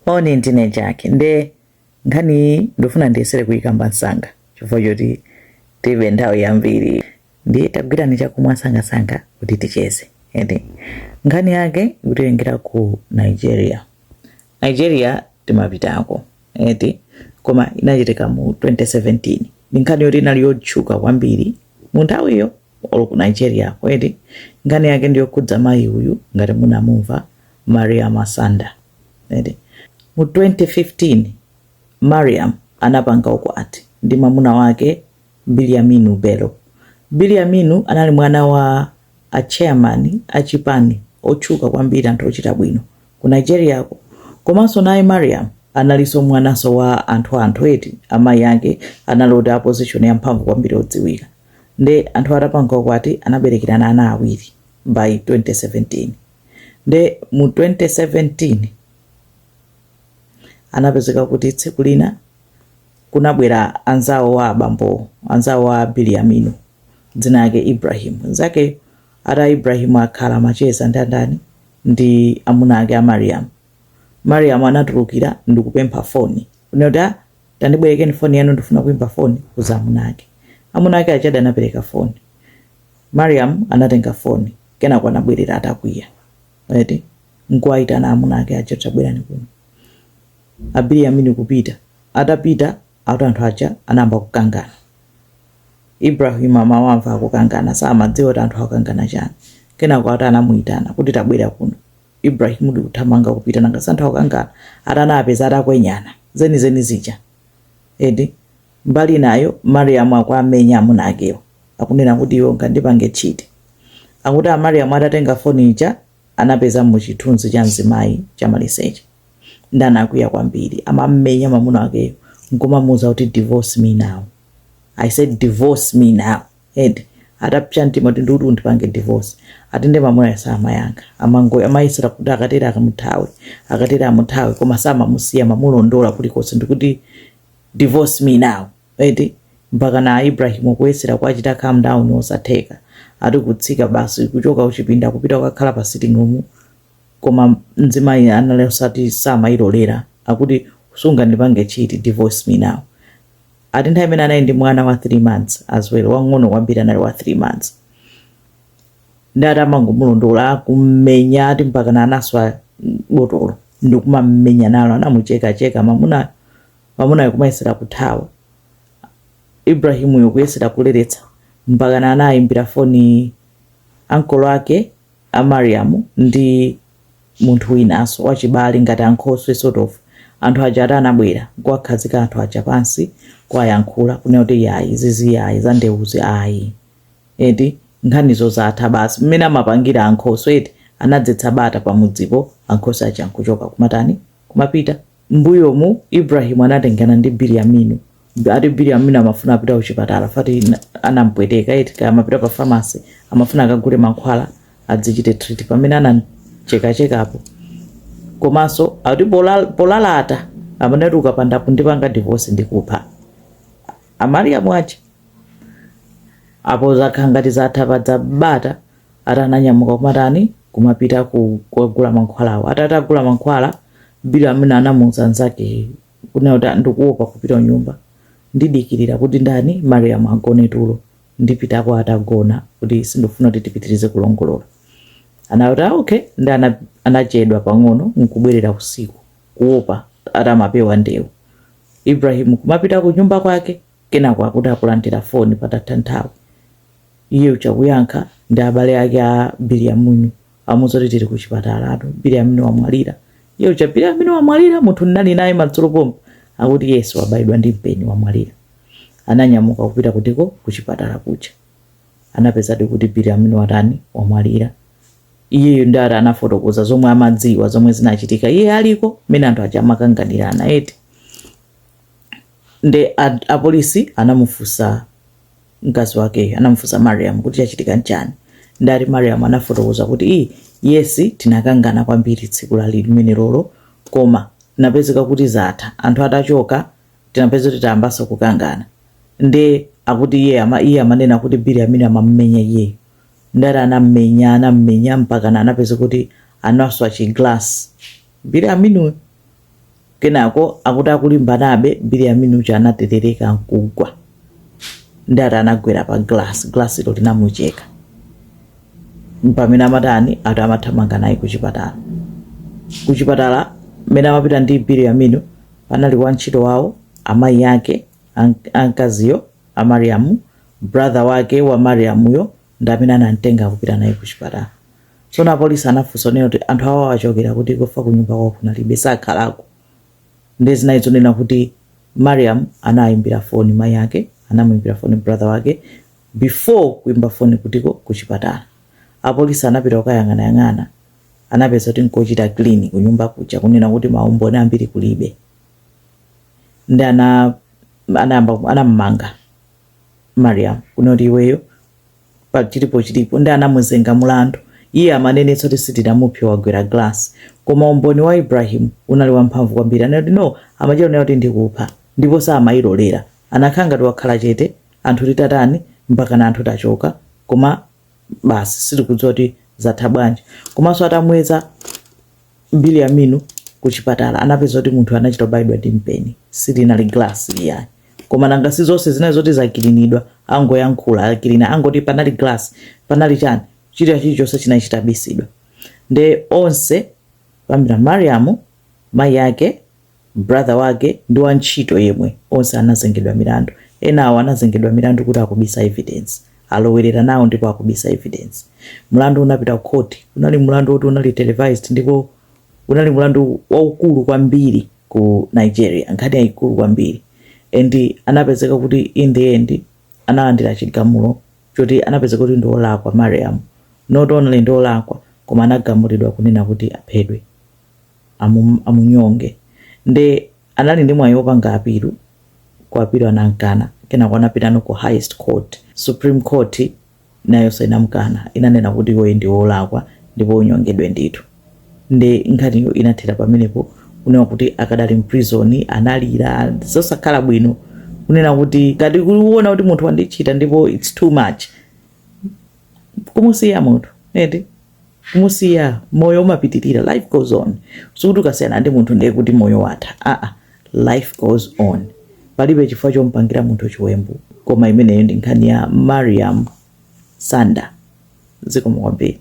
moni ndine Jackie nde nkhani iyi ndifuna ndiyesere kuyikamba msanga chifukwa choti tilibe nthawi yambiri ndiye tagwirani chakumwa msangamsanga kuti ticheze ende nkhani yake ikutengera ku nigeria nigeria timapitako eti koma inachitika mu 2017 ndi nkhani yoti inali yotchuka kwambiri mu nthawiyo olo ku nigeria ko eti nkhani yake ndiyokhudza mayi uyu ngati munamumva mariam sanda eti mu 2015 mariam anapanga ukwati ndi mwamuna wake biliaminu bello biliaminu anali mwana wa a chairman a chipani otchuka kwambiri anthu ochita bwino ku nigeria ko komanso naye mariam analinso mwananso wa anthu anthu eti amayi ake anali oti a position yamphamvu kwambiri odziwika nde anthu atapanga ukwati anaberekerana ana awiri by 2017 nde mu 2017 anapezeka kuti tsiku lina kunabwera anzawo a abambowo anzawo a biliaminu dzina yake ibrahim nzake ati ibrahim akhala macheza ndi andani ndi amuna ake a mariam mariam anatulukira ndikupempha foni kunena ati Tandibwerekeni foni yanu ndifuna kuimba foni kuuza amuna ake. Amuna ake aja ati anapereka foni. Mariam anatenga foni kenako anabwerera atakwiya. Eti nkuwaitana amuna ake aja tabwerani kuno. A Biliaminu kupita. Atapita ati anthu aja anayamba kukangana. Ibrahim amawamva akukangana samadziwa kuti anthu akukangana chani. Kenako ati anamuitana kuti tabwera kuno. Ibrahim ndi kuthamanga kupita nanga si anthu akukangana ati anawapeza atakwenyana zenizeni zija eti. Mbali inayo Mariam akuwamenya amuna akewo akunena kuti iwe ungandipange cheat. Akuti a Mariam atatenga foni ija anapezamo chithunzi cha mzimayi chamaliseche nde anakwiya kwambiri amamumenya mamuna wakeyo nkumamuuza kuti divorce me now. I said divorce me now. eti atapsa mtima kuti ndikuti undipange divorce ati nde mamunayo samayankha amango amayesera kuti akatere akamuthawe akatere amuthawe koma samamusiya mamulondola kulikonse ndikuti divorce me now eti mpakana ibrahim kuyesera kuachita calm down osatheka ati kutsika basi kuchoka uchipinda kupita kukakhala pa sitting room koma mzimayi anali ati samayilolera akuti sungandipange chiti divorce me now ati nthawi imene anali ndi mwana wa 3 months as well wang'ono kwambiri anali wa 3 months nde ati amangomulondola kummenya ati mpakana anaswa botolo ndi kumammenya nalo anamuchekacheka mamunayo mamunayo kumayesera kuthawa ibrahimuyo kuyesera kuleretsa mpakana anayimbira foni ankolo ake a mariam ndi munthu winaso wachibale ngati ankhoswe sort of anthu aja ati anabwera nkuwakhazika anthu aja pansi kuwayankhula kunena kuti yayi zizi yayi za ndeuzi ayi eti nkhanizo zatha basi mmene amapangira ankhoswe eti anadzetsa bata pamudzipo ankhoswe aja nkuchoka kumatani kumapita M'mbuyomu, Ibrahim anatengana ndi Bilyaminu. Ati Bilyaminu amafuna apita kuchipatala fati anampweteka eti kaya amapita pa pharmacy amafuna akagule mankhwala adzichite treat pamene anamchekachekapo komanso ati polal- polalata amanati ukapanda kundipanga divorce ndikupha Mariam uja apo zakhala ngati zatha pabwera bata ati ananyamuka kumatani kumapita ku- kukagula mankhwalawo ati atagula mankhwala Bilyaminu anamuuza nzake kunena kuti ndikuopa kupita kunyumba ndidikirira kuti ndani mariam agone tulo ndipitako atagona kuti sindikufuna kuti tipitirize kulongolola anati ah, okay nde ana- anachedwa pang'ono nkubwerera usiku kuopa ati amapewa ndewu ibrahim kumapita ku nyumba kwake Kenako akuti akulandira foni patatha nthawi iye uja akuyankha ndi abale ake a Biliaminu akumuuza kuti tili kuchipatala ati Biliaminu wamwalira. Iye uja Biliaminu wamwalira munthu ndinali naye madzulo pompa akuti yes wabayidwa ndi mpeni wamwalira. Ananyamuka kupita kutiko kuchipatala kuja anapezadi kuti Biliaminu watani wamwalira. Iyeyo nde ati anafotokoza zomwe amadziwa zomwe zinachitika iye aliko mmene anthu aja amakanganirana eti. nde a, a polisi anamufunsa mkazi wakeyo anamufunsa mariam kuti chachitika nchani ndati mariam anafotokoza kuti i yesi tinakangana kwambiri tsiku limenelolo koma tinapezeka kuti zatha anthu atachoka tinapeza kuti tayambanso kukangana nde akuti iye ama iye amanena kuti biliaminu amamumenya iyeyo ndati anammenya anammenya mpaka na anapeza kuti anaswa chiglass biliaminuyo Kenako akuti akulimbanabe, Biliaminu uja anaterereka nkugwa. Ndati anagwera pa glass, glass lo linamucheka. Pamene amatani ati amathamanga naye ku chipatala. Ku chipatala mmene amapita ndi Biliaminu panali wantchito wawo, amayi ake a mkaziyo a Mariam, brother wake wa Mariam yo ndi amene anamtenga kupita naye ku chipatala tsono apolisi anafunsa kunena kuti anthu awo awachokera kutiko if ku nyumba kwawo kunalibe sakhalako ndi zinazi zonena kuti mariam anayimbira foni mayi ake anamuyimbira foni brother wake before kuimba foni kutiko ku chipatala apolisi anapita kukayang'anayang'ana anapeza kuti nkochitidwa clean ku nyumba kuja kunena kuti maumboni ambiri kulibe nde ana anayamba anamumanga mariam kunoti iweyo pa chilipo chilipo ndi anamuzenga mulandu iye amanenetsa kuti sitinamuphe wagwera glass koma umboni wa ibrahim unali wamphamvu kwambiri anati no amachita kunena kuti ndikupha ndipo samayilolera anakhala ngati wakhala chete anthu titatani mpaka na anthu tachoka koma basi sitikudziwa kuti zatha bwanji komanso atamweza Bilyaminu kuchipatala anapeza kuti munthu anachita kubayidwa ndi mpeni silinali glass iyayi koma nanga si zonse zinali zoti zakilinidwa angoyankhula akilina angoti panali glass panali chani chilichonse chilichonse chinali chitabisidwa nde onse Pamira mariamu mayi ake brother wake ndi wa ntchito yemwe onse anazengedwa milandu. Enawo anazengedwa milandu kuti akubisa evidence. Alowerera nawo ndipo akubisa evidence. Mlandu unapita ku court. Unali mlandu woti unali televised ndipo unali mlandu waukulu kwambiri ku Nigeria, nkhani yaikulu kwambiri. And anapezeka kuti in the end analandira chigamulo choti anapezeka kuti ndi olakwa Mariam. Not only ndi olakwa koma anagamulidwa kunena kuti aphedwe. amunyonge nde anali ndi mwayi wopanga apilu ku apilu anamkana kenako anapitano ku highest court supreme court nayonso inamkana inanena kuti iweyo ndi wolakwa ndipo unyongedwe ndithu nde nkhaniyo inathera pamenepo kunena kuti akadali mprison analira zosakhala bwino kunena kuti ngati kuona kuti munthu wandichita ndipo its too much kumusiya munthu eti kumusiya moyo umapitirira life goes on sikuti ukasiyana ndi munthu nde kuti moyo watha aa life goes on palibe chifukwa chompangira munthu chiwembu koma imeneyo ndi nkhani ya mariam sanda zikomo kwambiri